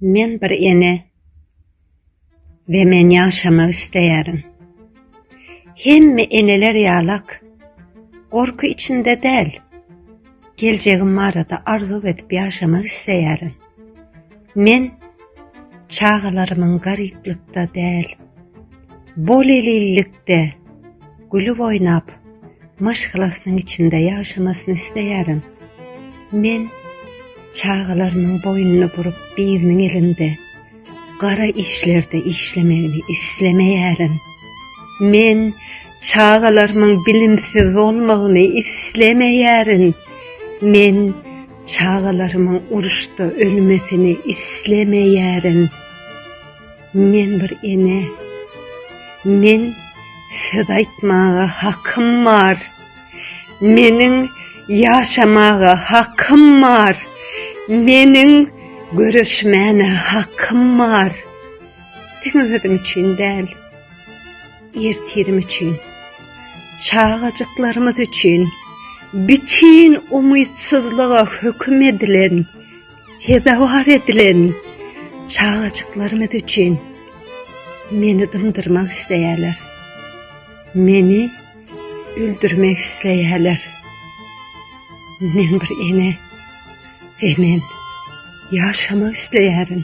Men bir ene we men ýaşamak isleýärin. Hemme eneler ýalak, gorky içinde däl. Geljegim barada arzuw edip ýaşamak isleýärin. Men çagalarymyň garyplykda däl, bolelillikde. Gülüp oýnap, maşgalasynyň içinde ýaşamasyny isleýärin. Men çagalarymyň boýnuny burup biriniň elinde gara işlerde işlemegini islemeýärin. Men çagalarymyň bilimsiz bolmagyny islemeýärin. Men çagalarymyň uruşda ölmesini islemeýärin. Men bir ene. Men söz aýtmaga hakym bar. Meniň ýaşamaga hakym bar. Meniň göreşmäne hakym bar. Diňe özüm üçin däl. Ertirim üçin. Çagajyklarymyz üçin. Bütin umytsyzlyga höküm edilen. Sezewar edilen çagajyklarymyz üçin meni dymdyrmak isleýärler. Meni öldürmek isleýärler. Men bir ene we men ýaşamak isleýärin.